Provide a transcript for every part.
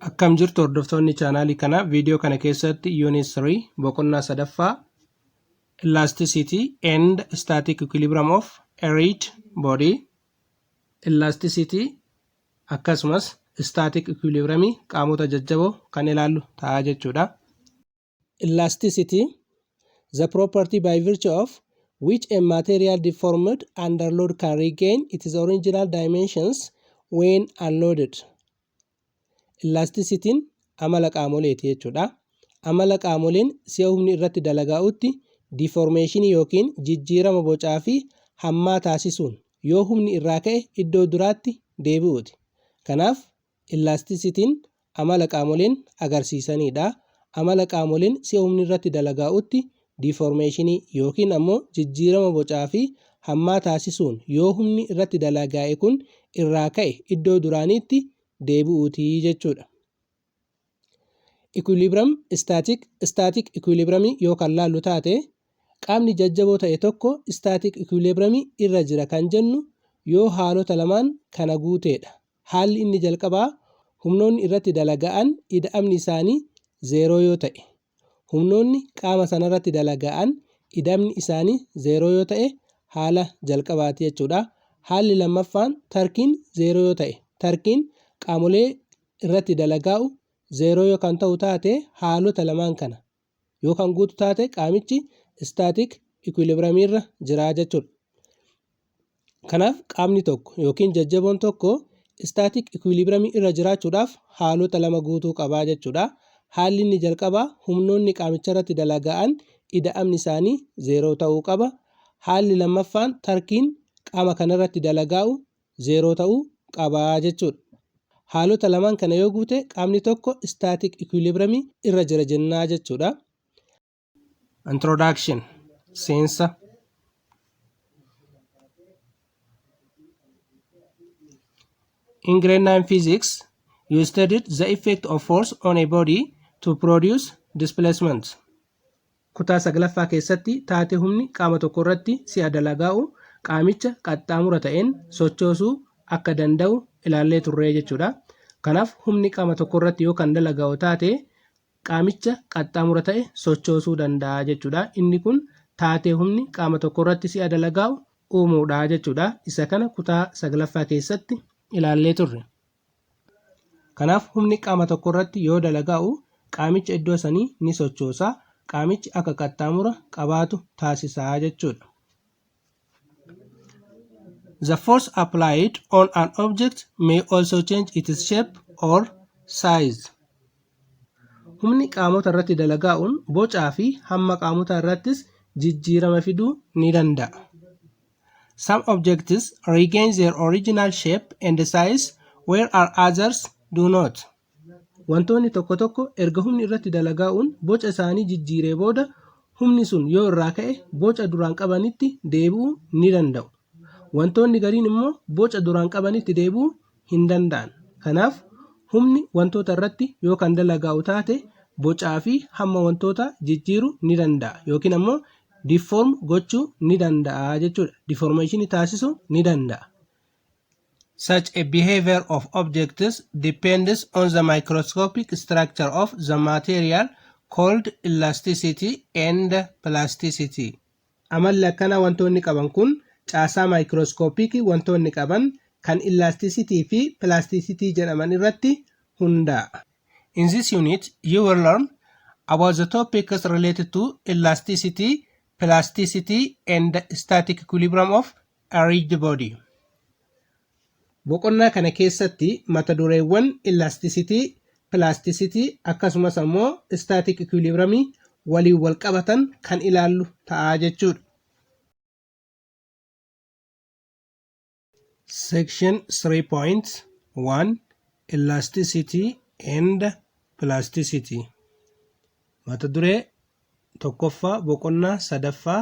Akkam jirtu hordoftoonni chaanaalii kanaa viidiyoo kana keessatti unit 3 boqonnaa sadaffaa elasticity and static equilibrium of a rigid body elasticity akkasumas static equilibrium qaamota jajjaboo kan ilaallu ta'a jechuudha. Elasticity, the property by virtue of which a material deformed under load can regain its original dimensions when unloaded. Ellaastisitiin amala qaamoleeti jechuudha. Amala qaamoleen si'a humni irratti dalagaa'utti diiformeeshinii yookiin jijjiirama bocaa fi hammaa taasisuun yoo humni irraa ka'e iddoo duraatti deebi'uuti. Kanaaf Ellaastisitiin amala qaamoleen agarsiisanii dha. Amala qaamoleen si'a humni irratti dalagaa'utti diiformeeshinii ykn ammoo jijjiirama bocaa fi hammaa taasisuun yoo humni irratti dalagaa'e kun irraa ka'e iddoo duraaniitti deebi'uu ti jechuu dha. Equilibrium Static Static equilibrium yoo kan laallu taate qaamni jajjaboo ta'e tokko static equilibrium irra jira kan jennu yoo haalota lamaan kana guutee dha. Haalli inni jalqabaa humnoonni irratti dalaga'an ida'amni isaanii zeeroo yoo ta'e. Humnoonni qaama sanarratti dalaga'an ida'mni isaanii zeeroo yoo ta'e haala jalqabaati jechuudha. Haalli lammaffaan tarkiin zeeroo yoo ta'e. Tarkiin qaamolee irratti dalagaa'u zeeroo yoo kan ta'u taate haalota lamaan kana. yoo kan guutu taate qaamichi istaatik ikwilibiramiirra jira jechuudha. Kanaaf qaamni tokko yookiin jajjaboon tokko istaatik ikwilibiramii irra jiraachuudhaaf haalota lama guutuu qaba jechuudha. Haalli inni jalqabaa humnoonni qaamicharratti dalaga'an ida'amni isaanii zeeroo ta'uu qaba. Haalli lammaffaan tarkiin qaama kanarratti dalagaa'u 0 ta'uu qaba jechuudha. Haalota lamaan kana yoo guute qaamni tokko static equilibrium irra jira jennaa jechuudha. Introduction Seensa In grade 9 physics, you studied the effect of force on a body to produce displacement. Kutaa 9ffaa keessatti taatee humni qaama tokko irratti si'a dalagaa'u qaamicha qaxxaamura ta'een sochoosuu akka danda'u ilaallee turree jechuudha. Kanaaf humni qaama tokko irratti yoo kan dalagaa'u taate qaamicha qaxxaamura ta'e sochoosuu danda'a jechuudha. Inni kun taatee humni qaama tokko irratti si'a dalagaa'u uumuudha jechuudha. Isa kana kutaa 9ffaa keessatti ilaallee turre. Kanaaf humni qaama tokko irratti yoo dalagaa'u qaamicha iddoo sanii ni sochoosa, qaamichi akka qaxxaamura qabaatu taasisa jechuudha. The force applied on an object may also change its shape or size. Humni qaamota irratti dalagaa'uun bocaa fi hamma qaamotaa irrattis jijjiirama fiduu ni danda'a. Some objects regain their original shape and size whereas others do not. Wantoonni tokko tokko erga humni irratti dalagaa'uun boca isaanii jijjiiree booda humni sun yoo irraa ka'e boca duraan qabanitti deebi'uu ni danda'u. Wantoonni gariin immoo boca duraan qabanitti deebi'uu hin danda'an. Kanaaf, humni wantoota irratti yoo kan dalagaa'u taate bocaa fi hamma wantootaa jijjiiru ni danda'a yookiin ammoo deform gochuu ni danda'a jechuudha. Deformation taasisu ni danda'a. Such a behavior of objects depends on the microscopic structure of the material called elasticity and plasticity. Amalli akkanaa wantoonni qaban kun caasaa maayikrooskoopiiki wantoonni qaban kan illaastisitii fi pilaastisitii jedhaman irratti hundaa'a. In this unit, you will learn about the topics related to elasticity, plasticity, and static equilibrium of Arrange the body. Boqonnaa kana keessatti mata dureewwan elasticity, plasticity akkasumas ammoo static equilibrium waliin wal qabatan kan ilaallu ta'a jechuudha. Section 3.1 Elasticity and Plasticity Mata duree tokkoffaa boqonnaa sadaffaa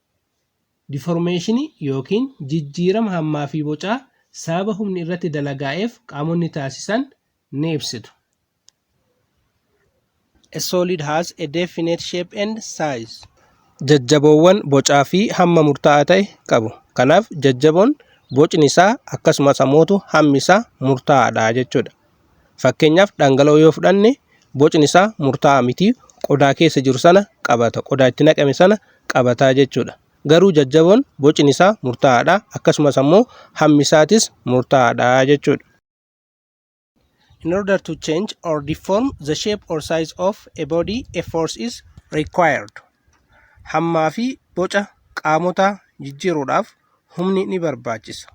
Diformeeshinii ykn jijjiirama hammaa fi bocaa sababa humni irratti dalagaa'eef qaamonni taasisan ni ibsitu. A solid has a definite shape and size. Jajjaboowwan bocaa fi hamma murtaa'aa ta'e qabu. Kanaaf jajjaboon bocni isaa akkasumas ammoo hammi isaa murtaa'aadha jechuudha. Fakkeenyaaf dhangala'oo yoo fudhanne bocni isaa murtaa'aa miti qodaa keessa jiru sana qabata qodaa itti naqame sana qabataa jechuudha. Garuu jajjaboon bocni isaa murtaa'aadha akkasumas ammoo hammi isaatis murtaa'aadha jechuudha. In order to change or deform the shape or size of a body a force is required. Hammaa fi boca qaamotaa jijjiiruudhaaf humni ni barbaachisa.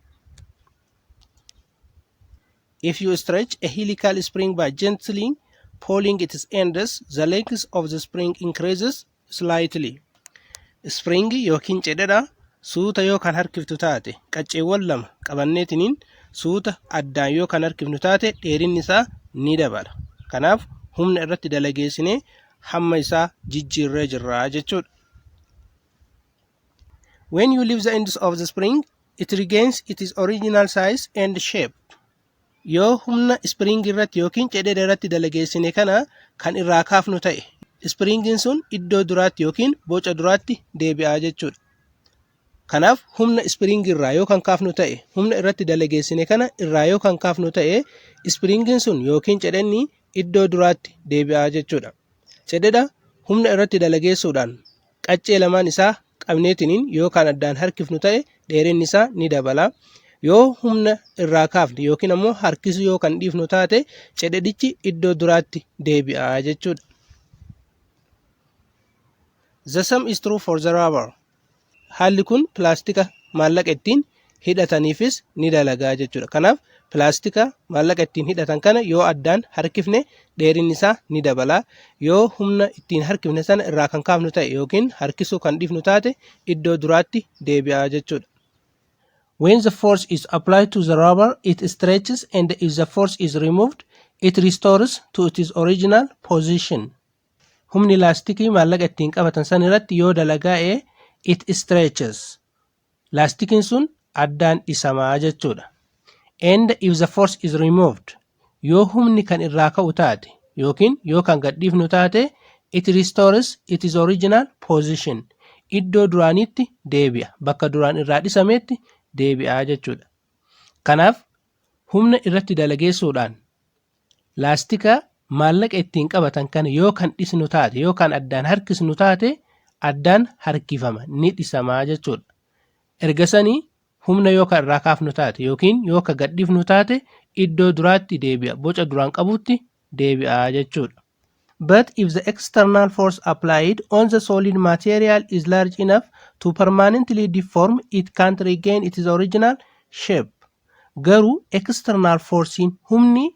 If you stretch a helical spring by gently pulling its ends, the length of the spring increases slightly. Spring yookiin cedhedha suuta yoo kan harkiftu taate qacceewwan lama qabanneetiniin suuta addaan yoo kan harkifnu taate dheerinni isaa ni dabala. Kanaaf humna irratti dalageessinee hamma isaa jijjiirree jirra jechuudha. When you leave the ends of the spring, it regains its original size and shape. Yoo humna spring irratti yookiin cedera irratti dalageessine kana kan irraa kaafnu ta'e, springin sun iddoo duraatti yookiin boca duraatti deebi'aa jechuudha. Kanaaf humna spring irraa yoo kan kaafnu ta'e, humna irratti dalageessine kana irraa yoo kan kaafnu ta'e, springin sun yookiin cedhenni iddoo duraatti deebi'aa jechuudha. Cedhedha humna irratti dalageessuudhaan qaccee lamaan isaa qabneetiniin yoo kan addaan harkifnu ta'e dheerinni isaa ni dabala. Yoo humna irraa kaafne yookiin ammoo harkisu yoo kan dhiifnu taate cedhedhichi iddoo duraatti deebi'a jechuudha. The same is true for the rubber. Haalli kun pilaastika maallaqa ittiin hidhataniifis ni dalagaa jechuudha. Kanaaf pilaastika maallaqa ittiin hidhatan kana yoo addaan harkifne dheerinni isaa ni dabala. Yoo humna ittiin harkifne sana irraa kan kaafnu ta'e yookiin harkisuu kan dhiifnu taate iddoo duraatti deebi'aa jechuudha. When the force is applied to the rubber, it stretches and if the force is removed, it restores to its original position. Humni laastikii maallaqa ittiin qabatan san irratti yoo dalagaa'e it stretches. laastikiin sun addaan dhisama jechuudha. And if the force is removed yoo humni kan irraa ka'u taate yookiin yoo kan gadhiifnu taate it restores its original position iddoo duraaniitti deebi'a bakka duraan irraa dhisameetti deebi'a jechuudha. Kanaaf humna irratti dalageessuudhaan Laastika maallaqa ittiin qabatan kana yoo kan dhisnu taate yoo kan addaan harkisnu taate addaan harkifama ni dhisamaa jechuudha. Erga sanii humna yoo kan irraa kaafnu taate yookiin yoo kan gadhifnu taate iddoo duraatti deebi'a boca duraan qabutti deebi'a jechuudha. But if the external force applied on the solid material is large enough to permanently deform it can't regain its original shape. Garuu external force'n humni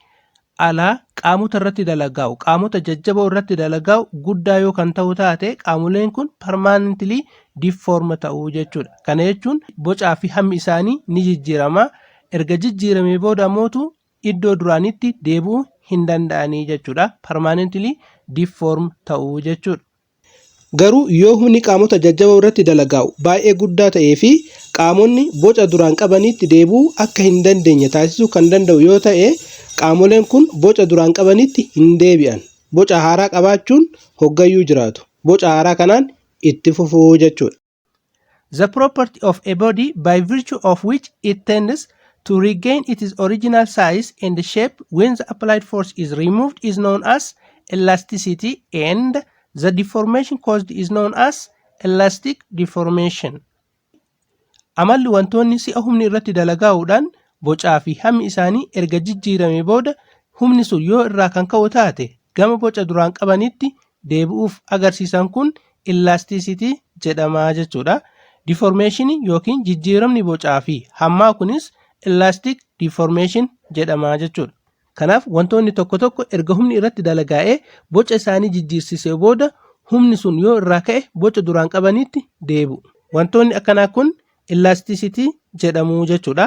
alaa qaamota irratti dalagaa'u qaamota jajjaboo irratti dalagaa'u guddaa yoo kan ta'u taate qaamoleen kun permanently deform ta'u jechuudha. Kana jechuun bocaa fi hammi isaanii ni jijjiirama. Erga jijjiiramee booda mootu iddoo duraanitti deebi'uu hin danda'anii jechuudha. Permanently deform ta'uu jechuudha. Garuu yoo humni qaamota jajjaboo irratti dalagaa'u baay'ee guddaa ta'ee fi qaamonni boca duraan qabaniitti deebi'uu akka hin dandeenye taasisuu kan danda'u yoo ta'e qaamoleen kun boca duraan qabaniitti hin deebi'an. Boca haaraa qabaachuun hoggayyuu jiraatu. Boca haaraa kanaan itti fufuu jechuudha. The property of a body by virtue of which it tends to regain its original size and shape when the applied force is removed is known as elasticity and the deformation caused is known as elastic deformation. Amalli wantoonni si'a humni irratti dalagaa'uudhaan bocaa fi hammi isaanii erga jijjiirame booda humni sun yoo irraa kan ka'u taate gama boca duraan qabanitti deebi'uuf agarsiisan kun illaastiisitii jedhama jechuudha. Diformeeshinii yookiin jijjiiramni bocaa fi hammaa kunis illaastik diformeeshin jedhama jechuudha. Kanaaf wantoonni tokko tokko erga humni irratti dalagaa'ee boca isaanii jijjiirsisee booda humni sun yoo irraa ka'e boca duraan qabaniitti deebi'u. Wantoonni akkanaa kun illaastiisitii jedhamu jechuudha.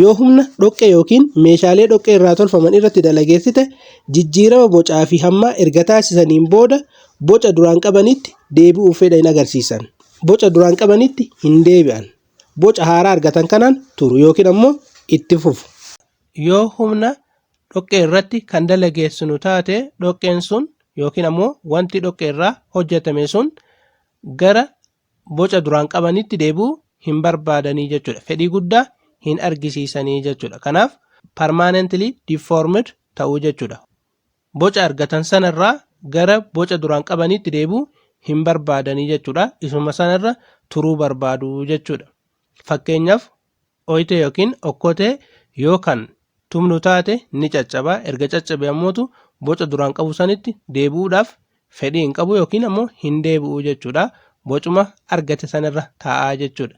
Yoo humna dhoqqee ykn meeshaalee dhoqqee irraa tolfaman irratti dalageessite, jijjiirama bocaa fi hammaa erga taasisaniin booda boca duraan qabanitti deebi'uuf fedha hin agarsiisan. Boca duraan qabanitti hin deebi'an. Boca haaraa argatan kanaan turu ykn ammoo itti fufu. Yoo humna dhoqqee irratti kan dalageessinu taate, dhoqqeen sun ykn ammoo wanti dhoqqee irraa hojjetame sun gara boca duraan qabanitti deebi'uu hin barbaadanii jechuudha. Fedhii guddaa hin argisiisanii jechuudha. Kanaaf permanently deformed ta'uu jechuudha. Boca argatan sanarraa gara boca duraan qabanitti deebi'uu hin barbaadanii jechuudha. Isuma sanarra turuu barbaadu jechuudha. Fakkeenyaaf Oytee yookiin okkotee yoo kan tumnu taate ni caccaba. Erga caccabe ammootu boca duraan qabu sanitti deebi'uudhaaf fedhii hin qabu yookiin ammoo hin deebi'u jechuudha. Bocuma argate sanirra taa'aa jechuudha.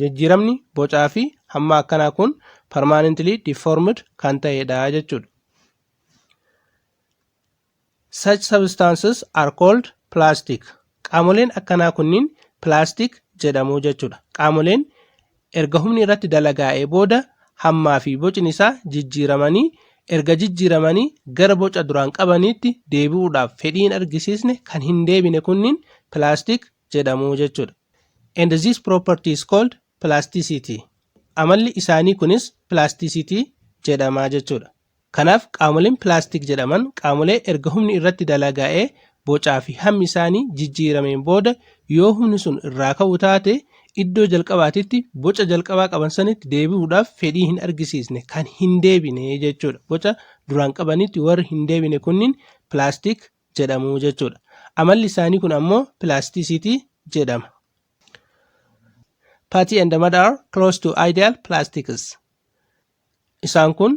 Jijjiiramni bocaa fi hammaa akkanaa kun permanently deformed kan ta'edha jechuudha. Such substances are called plastic. Qaamoleen akkanaa kunniin plastic jedhamu jechuudha. Qaamoleen erga humni irratti dalagaa'ee booda hammaa fi bocni isaa jijjiiramanii erga jijjiiramanii gara boca duraan qabaniitti deebi'uudhaaf fedhii hin argisiisne kan hin deebine kunniin plastic jedhamu jechuudha. And this property is called plasticity. Amalli isaanii kunis plasticity jedhama jechuudha. Kanaaf qaamoleen pilaastik jedhaman qaamolee erga humni irratti dalagaa'ee bocaa fi hammi isaanii jijjiirameen booda yoo humni sun irraa ka'u taate iddoo jalqabaatitti boca jalqabaa qaban sanitti deebi'uudhaaf fedhii hin argisiisne kan hin deebine jechuudha. Boca duraan qabanitti warri hin deebine kunniin pilaastik jedhamu jechuudha. Amalli isaanii kun ammoo pilaastisiitii jedhama. Patty and Ahmad are close to ideal plastics. Isaan kun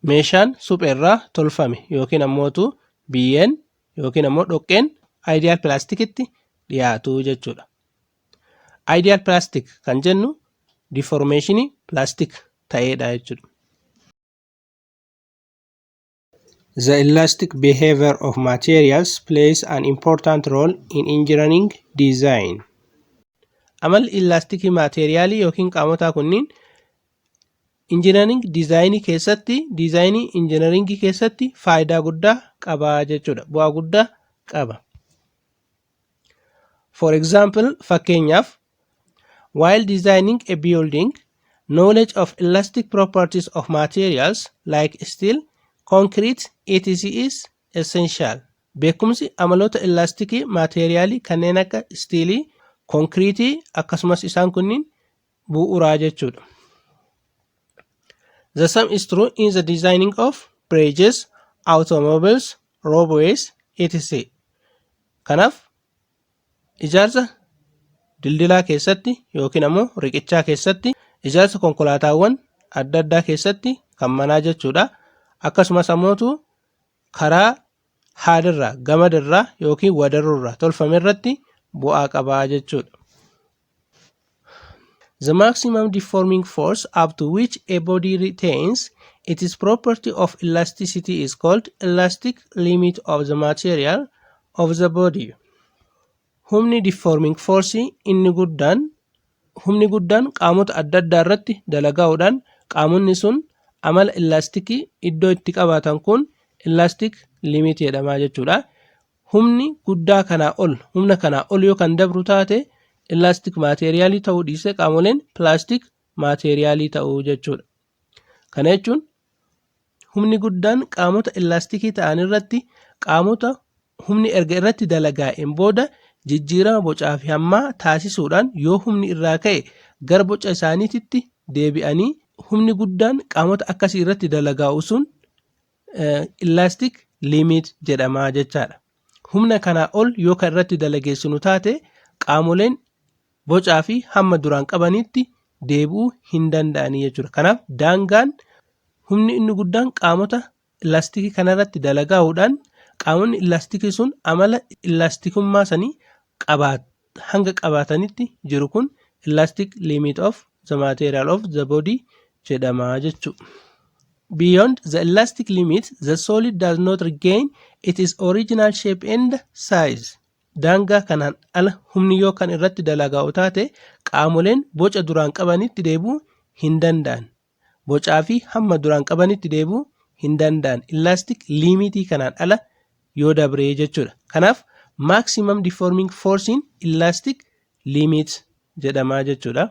meeshaan suphee irraa tolfame yookiin ammootu biyyeen yookiin ammoo dhoqqeen ideal pilaastikitti dhiyaatu jechuudha. Ideal pilaastik kan jennu diformeeshinii pilaastik ta'eedha jechuudha. The elastic behavior of materials plays an important role in engineering design. Amalli ilaastikii maateeriyaalii yookiin qaamotaa kunniin injinariing diizaayinii keessatti diizaayinii injinariingii keessatti faayidaa guddaa qaba jechuudha. Bu'aa guddaa qaba. For example, fakkeenyaaf, while designing a building, knowledge of elastic properties of materials like steel, concrete, etc. is essential. Beekumsi amaloota elastikii maateeriyaalii kanneen akka istiilii, konkiriitii akkasumas isaan kunniin bu'uuraa jechuudha. The same is true in the designing of bridges, automobiles, roadways, etc. Kanaaf ijaarsa dildilaa keessatti yookiin ammoo riqichaa keessatti ijaarsa konkolaataawwan adda addaa keessatti kan manaa jechuudha. Akkasumas ammootu karaa haadirraa, gamadirraa yookiin wadarurraa tolfame irratti bu'aa qabaa jechuudha. The maximum deforming force up to which a body retains its property of elasticity is called elastic limit of the material of the body. Humni deforming force inni guddaan humni guddaan qaamota adda addaa irratti dalagaa'uudhaan qaamonni sun amala elastikii iddoo itti qabaatan kun elastic limit jedhama jechuudha. humni guddaa kanaa ol humna kanaa ol yoo kan dabru taate ilaastik maateeriyaalii ta'uu dhiisee qaamoleen pilaastik maateeriyaalii ta'uu jechuudha. Kana jechuun humni guddaan qaamota ilaastikii ta'an irratti qaamota humni erga irratti dalagaa'een booda jijjiirama bocaa fi hammaa taasisuudhaan yoo humni irraa ka'e gara boca isaaniititti deebi'anii humni guddaan qaamota akkasii irratti dalagaa'u sun Elastic limit jedhama jechaadha. Humna kanaa ol yoo kan irratti dalageessinu taate qaamoleen bocaa fi hamma duraan qabaniitti deebi'uu hin danda'anii jechuudha. Kanaaf daangaan humni inni guddaan qaamota ilaastikii kanarratti dalagaa'uudhaan qaamonni ilaastikii sun amala ilaastikummaa sanii qabaatu. hanga qabaatanitti jiru kun elastic limit of the material of the body jedhama jechuu. Beyond the elastic limit, the solid does not regain its original shape and size. Daangaa kanaan ala humni yoo kan irratti dalagaa'u taate qaamoleen boca duraan qabanitti deebi'uu hin danda'an. bocaa fi hamma duraan qabanitti deebi'uu hin danda'an elastic limitii kanaan ala yoo dabree jechuudha. Kanaaf maximum deforming force in elastic limit jedhama jechuudha.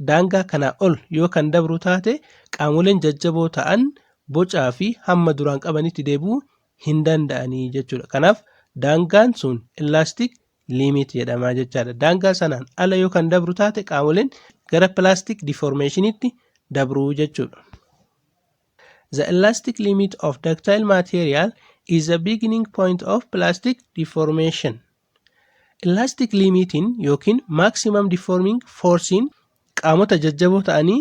Daangaa kanaa ol yoo kan dabru taate qaamoleen jajjaboo ta'an bocaa fi hamma duraan qabanitti deebi'uu hin danda'anii jechuudha. Kanaaf daangaan sun elastic limit jedhama jechaadha. Daangaa sanaan ala yoo kan dabru taate qaamoleen gara plastic deformationitti dabruu jechuudha. The elastic limit of ductile material is the beginning point of plastic deformation. Elastic limitiin yookiin maximum deforming forcein qaamota jajjaboo ta'anii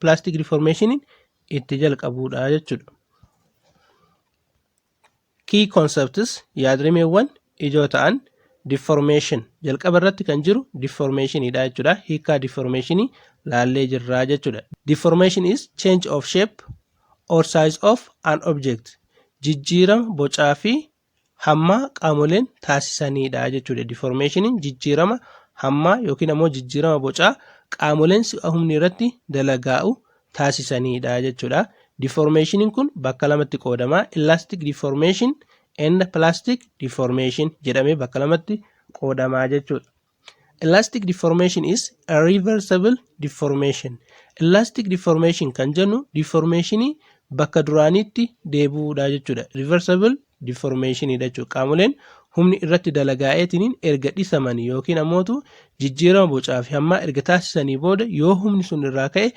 pilaastik riiformeeshiniin itti jalqabuudha jechuudha. Key concepts yaadrimeewwan ijoo ta'an deformation jalqaba irratti kan jiru deformationidha jechuudha. Hiikaa deformationii laallee jirraa jechuudha. Deformation is change of shape or size of an object. Jijjiirama bocaa fi hammaa qaamoleen taasisaniidha jechuudha. Diformeeshiniin jijjiirama hammaa yookiin ammoo jijjiirama bocaa qaamoleen si'a humni irratti dalagaa'u taasisaniidha jechuudha. Diformeeshiniin kun bakka lamatti qoodama. Elastic deformation and plastic deformation jedhamee bakka lamatti qoodama jechuudha. Elastic deformation is a reversible deformation. Elastic deformation kan jennu deformation bakka duraaniitti deebi'uudha jechuudha. Reversible deformation dha jechuudha. Qaamoleen humni irratti dalagaa'eetiin erga dhisamanii yookiin ammootu jijjiirama bocaa fi hammaa erga taasisanii booda yoo humni sun irraa ka'e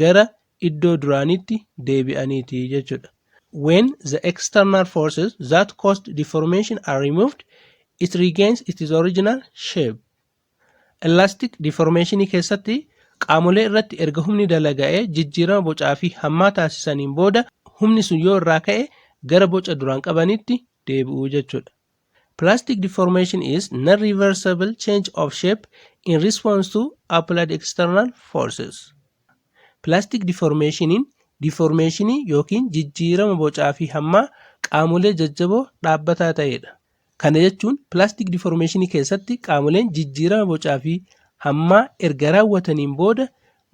gara iddoo duraaniitti deebi'aniiti jechuudha. When the external forces that caused deformation are removed, it regains its original shape. Elastic deformation keessatti qaamolee irratti erga humni dalaga'ee jijjiirama bocaa fi hammaa taasisaniin booda humni sun yoo irraa ka'e gara boca duraan qabanitti deebi'u jechuudha. Plastic deformation is non-reversible change of shape in response to applied external forces. Plastic deformationiin diformeeshinii yookiin jijjiirama bocaa fi hammaa qaamolee jajjaboo dhaabbataa ta'edha. Kana jechuun plastic deformationi keessatti qaamoleen jijjiirama bocaa fi hammaa erga raawwataniin booda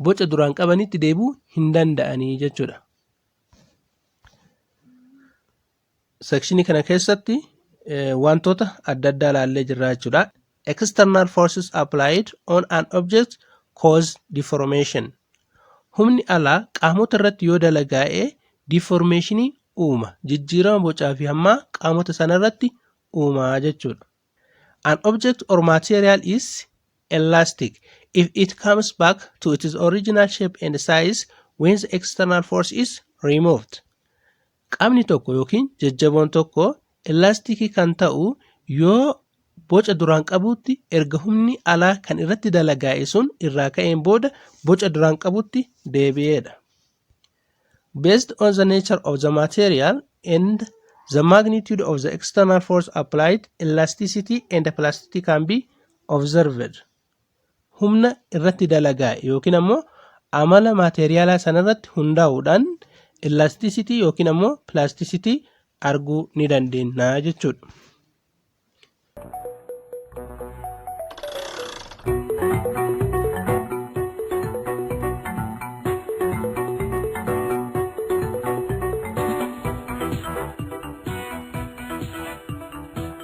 boca duraan qabanitti deebi'uu hin danda'anii jechuudha. Sekshinii kana keessatti wantoota adda addaa ilaallee jirra jechuudha. External forces applied on an object cause deformation. Humni alaa qaamota irratti yoo dalagaa'e deformationii uuma. Jijjiirama bocaa fi hammaa qaamota sana irratti uuma jechuudha. An object or material is elastic if it comes back to its original shape and size when the external force is removed. Qamni tokko yookiin jajjaboon tokko ellaastikii kan ta'u yoo boca duraan qabutti erga humni alaa kan irratti dalagaa'e sun irraa ka'een booda boca duraan qabutti deebi'eedha. Based on the nature of the material and the magnitude of the external force applied, elasticity and plasticity can be observed. humna irratti dalagaa yookiin ammoo amala maateeriyaalaa sanarratti hundaa'uudhaan illastisitii yookiin ammoo pilaastisitii arguu ni dandeenya jechuudha.